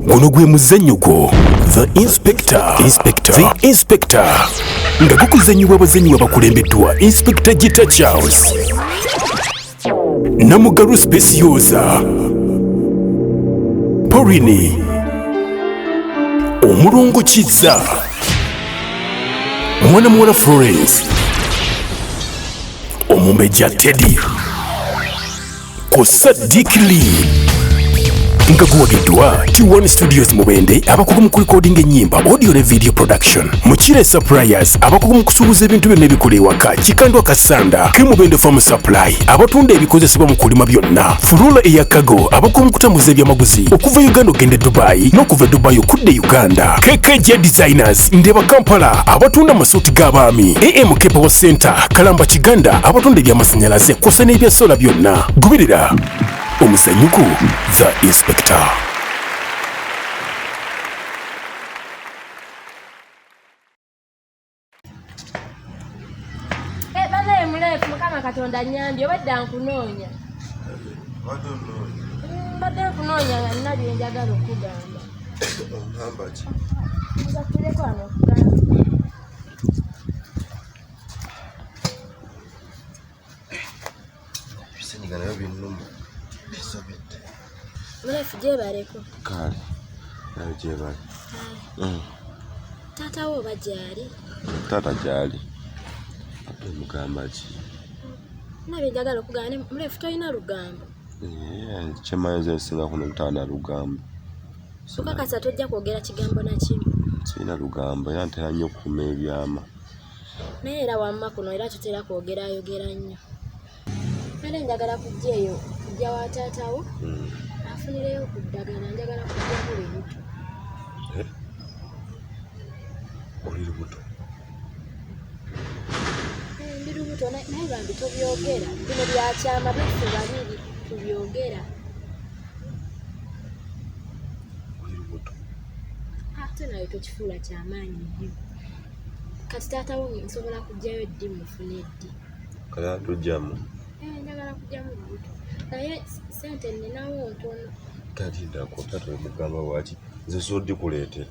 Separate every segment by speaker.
Speaker 1: guno gwe muzannyo gwo the inspector inspector the inspector nga gukuzannyibwa abazannyi babakulembeddwa inspector gita charles namugalu specioza porini omulongo kizza mwana muwala florence omumbejja teddy ku Sadiq Lee nga guwagiddwa T1 Studios Mubende abakugu mu kulikodinga ennyimba audio ne video production Mukire Suppliers abakugu mu kusuubuza ebintu byonna ebikola ewaka Kikandwa Kasanda ke Mubende Farm Supply abatunda ebikozesebwa mu kulima byonna Furula eya Kago abakugu mu kutambuza ebyamaguzi okuva Uganda okugenda e Dubai n'okuva e Dubai okudda e Uganda KKJ Designers Market, Ndeba Kampala abatunda amasuuti g'abaami, AM Kepewo Center, Kalamba Kiganda abatunda eby'amasannyalaze kw'ossa n'ebya sola byonna. Goberera omuzanyuko The Inspector. Eh,
Speaker 2: banaye muleefu mukama katonda nyambye obadda nkunoonya mbadde nkunoonya nga nina byenjagala okugamba ebisenyiga
Speaker 3: nabyo binnuma bisobedde
Speaker 2: mulafu gyebaleko kale
Speaker 3: nayo gyebali mm.
Speaker 2: taata wo oba gyali taata gyali
Speaker 3: ate mugamba ki
Speaker 2: nabye njagala okugamba mulafu tolina lugambo
Speaker 3: Kyemmanyi nze nsinga kuno obutaba na lugambo. Okakasa
Speaker 2: tojja kwogera kigambo na kimu? Sirina lugambo
Speaker 3: era ntera nnyo okukuuma ebyama. Naye
Speaker 2: era wamma kuno era tutera kwogera ayogera nnyo. Kale njagala kujja eyo kujja wa taata wo hmm. afunireyo ku ddagala njagala kujja buli lubuto.
Speaker 3: Eh? Oli lubuto?
Speaker 2: ebirubuto naye bambi tobyogera bino byakyama biffe babiri tubyogera
Speaker 3: ate
Speaker 2: nawe tokifuula kyamaanyi nnyo kati taata wo nsobola kujjayo ddi mufuna eddi kaya
Speaker 3: tujjamu eh, njagala
Speaker 2: kujjamu lubuto naye sente ninawo ntono talindako
Speaker 3: tata omugamba waki nze sodikuleetera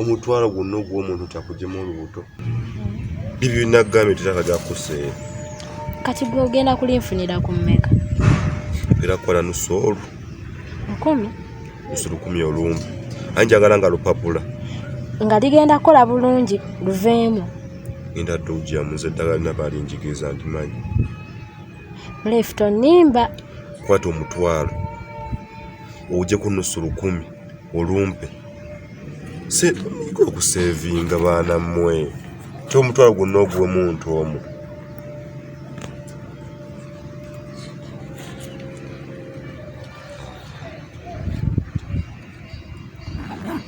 Speaker 3: omutwalo gwonna ogw'omuntu takugema olubuto bibyo birina kugambye tetaka gyakuseera kati
Speaker 2: gwe ogenda kulinfunira ku mmeka era
Speaker 3: kukola nusoolu lukumi
Speaker 2: nusu
Speaker 3: lukumi olumbi aye njagala nga lupapula nga ligenda
Speaker 2: kukola bulungi luveemu ngenda dde
Speaker 3: ogiyamuza eddagala lina balinjigiriza ndimanyi
Speaker 2: left onimba kwata
Speaker 3: omutwalo uje ku nusu lukumi olumpe se niko okusevinga baana mmwe ti omutwalo gwonna oguwe muntu omu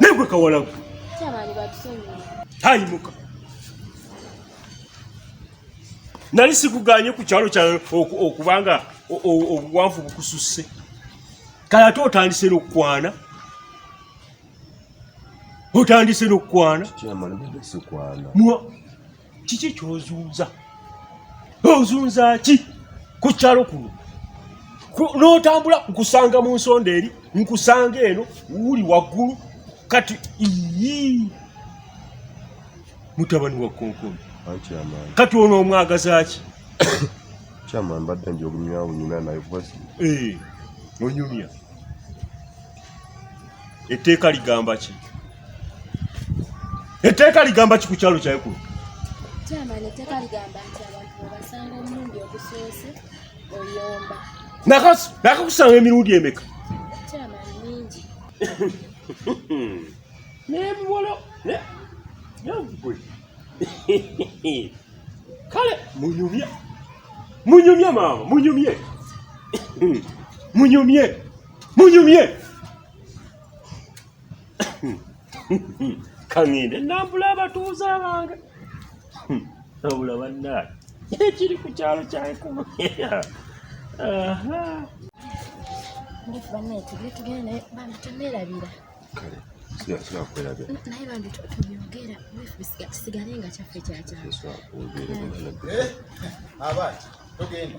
Speaker 4: negwe kawalagu
Speaker 2: tayimuka
Speaker 4: nali sikuganye ku kyalo kyawe okubanga obuwanvu bukususse kale ate otandise n'okukwana otandise
Speaker 3: n'okukwana
Speaker 4: kiki kyozunza ozunza ki ku kyalo kuno n'otambula nkusanga mu nsonda eri nkusanga eno wuli waggulu kati ii mutabani wa konkoni kati ono omwagazaki kyama
Speaker 3: mbadde nja obunyawunyina naye vasi eh,
Speaker 4: onyumya etteeka ligamba ki etteeka ligamba ki ku kyalo kyaye
Speaker 2: kuno
Speaker 4: nakakusanga emirundi emeka nebiwolo nagwe kale munyumye munyumye maama munyumye munyumye munyumye kangende nambula abatuuze abange hmm. nabula bannaye ekiri ku kyalo kyankuma
Speaker 2: banaye tugire tugere naye bambi tonerabira kale
Speaker 3: sigasira kwerabira naye bambi
Speaker 2: tubyogera kisigale nga kyaffe kyakyaabaana eh, togenda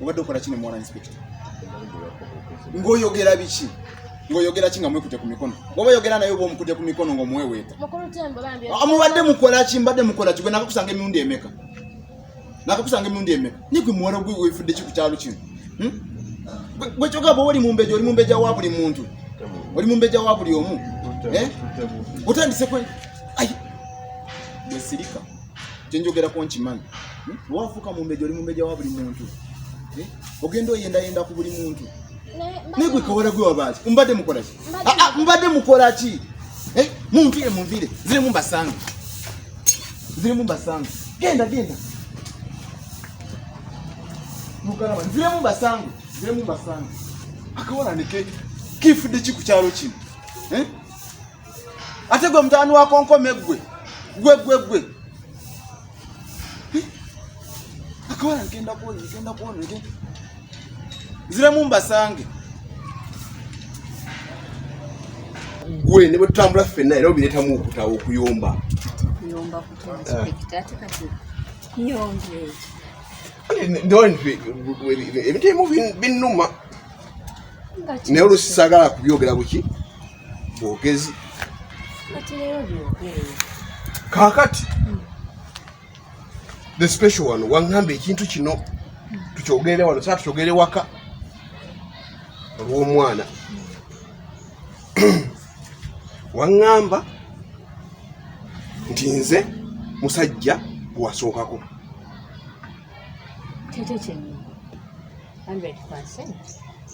Speaker 5: obadde okola kino mwana inspector ngoyogera biki ngoyogera ki nga mwekute ku mikono bwoba oyogera naye oba omukute ku mikono ngaomuweweeta ah, mubadde mukola ki mbadde mukola ki gwe nakakusanga emirundi emeka nakakusanga emirundi emeka nigwe muwala gwe wefudde ki ku kyalo kino hmm? gwe kyogamba oli mumbeja oli mumbeja wa buli muntu oli mumbeja wa buli omu eh? otandise kwe ai bwesirika kyenjogerako nkimanyi hmm? wafuuka mumbeja oli mumbeja wa buli muntu eh? ogenda oyendayenda ku buli muntu naye gwe kawala gwe wabaaki mbadde mukolaki ah, ah, mbadde mukolaki eh? munvire munvire zirimu mbasange zirimu mbasange genda genda mugalaba nziremu mbasange nziremu mbasange akawala neke kifudde ki ku kyalo kino eh? ate gwe mutabani wa konkome gwe gwe gwe gwe akawala ngenda kuona ngenda kuona ngenda ziremu mbasange
Speaker 3: gwe ne bwetutambula ffenna era obireetamu okutawa okuyomba ebintu ebimu binnuma naye olusi sagala kubyogera buki bwogezi kakati hmm. the special one wangamba ekintu kino hmm. tukyogere wano saa tukyogere waka olw'omwana hmm. wangamba nti nze musajja gwasookako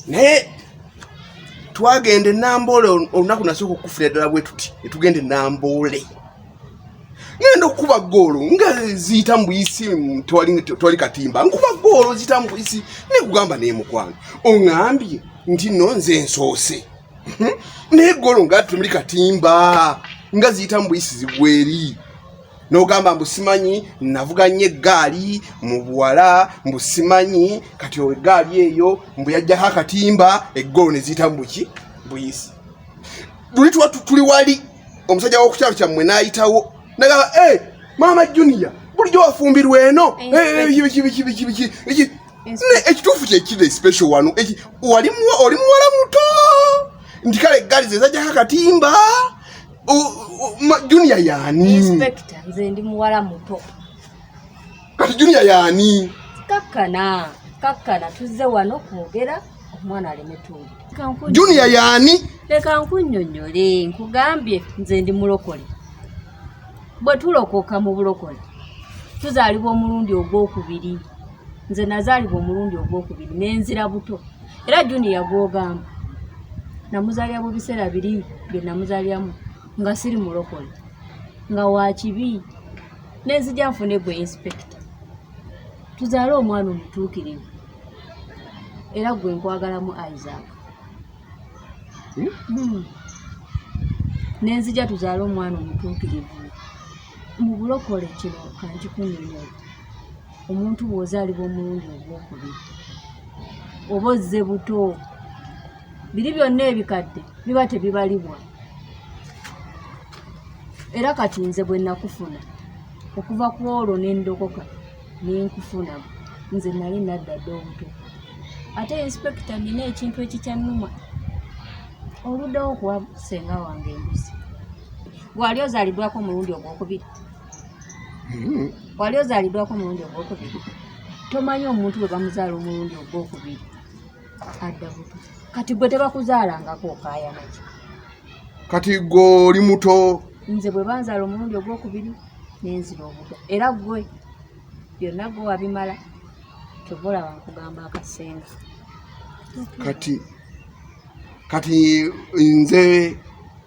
Speaker 3: naye twagenda enamboole olunaku nasooka okukufira ddala bwe tuti netugenda enamboole ngenda okukuba goolo nga ziyita mbuyisi tewali katimba nkuba goolo ziyita mbuyisi nekugamba naye mukwano oŋambye nti no nze nsoose naye goolo nga tumuli katimba nga ziyita mbuyisi zigweri nogamba mbu simanyi navuga nnyo eggaali mu buwala mbu simanyi kati owo eggaali eyo mbu yajjako akatimba eggolo ne ziyita mubuki buyisi luli tuba tuli wali omusajja wokukyalo kyammwe n'ayitawo nagamba e eh, maama junior bulijjo wafumbirwa eno bikibikibikibiki eh, eh, ekituufu kyekiri especial wano oli muwala muto nti kale eggaali zezajjako akatimba junior yani inspector nze ndi
Speaker 6: muwala muto
Speaker 3: kati junior yani kakkana
Speaker 6: kakkana tuzze wano kwogera omwana aleme tuwulira junior
Speaker 3: yani leka nkunnyonnyole
Speaker 6: nkugambye nze ndi mulokole bwe tulokoka mu bulokole tuzaalibwa omulundi ogw'okubiri nze nazaalibwa omulundi ogwokubiri nenzira buto era juniya gwogamba namuzaalira mu biseera biri bye namuzaaliramu nga siri mulokole nga wakibi nenzija nfune gwe inspekita tuzaale omwana omutuukirivu era gwe nkwagalamu isaac hmm? Hmm. nenzija tuzaale omwana omutuukirivu mu bulokole kino kankikunyonyola omuntu bw'ozaalibwa omulundi ogwokubiri oba ozze buto biri byonna ebikadde biba tebibalibwa era kati nze bwe nakufuna okuva ku olwo ne ndokoka ne nkufuna nze nali nadda dda obuto ate inspekita nina ekintu ekikyannuma oluddewo okuwa senga wange embuzi Wali ozaliddwako omulundi ogwokubiri? Hmm. Wali ozaliddwako omulundi ogwokubiri? Tomanyi omuntu bwe bamuzaala omulundi ogwokubiri adda buto. Kati gwe tebakuzaalangako okaayana ki? Kati
Speaker 3: gwe oli muto. Nze bwe banzaala
Speaker 6: omulundi ogwokubiri nenzira obuto era gwe byonna gwe wabimala kyova olaba nkugamba akasenga. Kati
Speaker 3: kati nze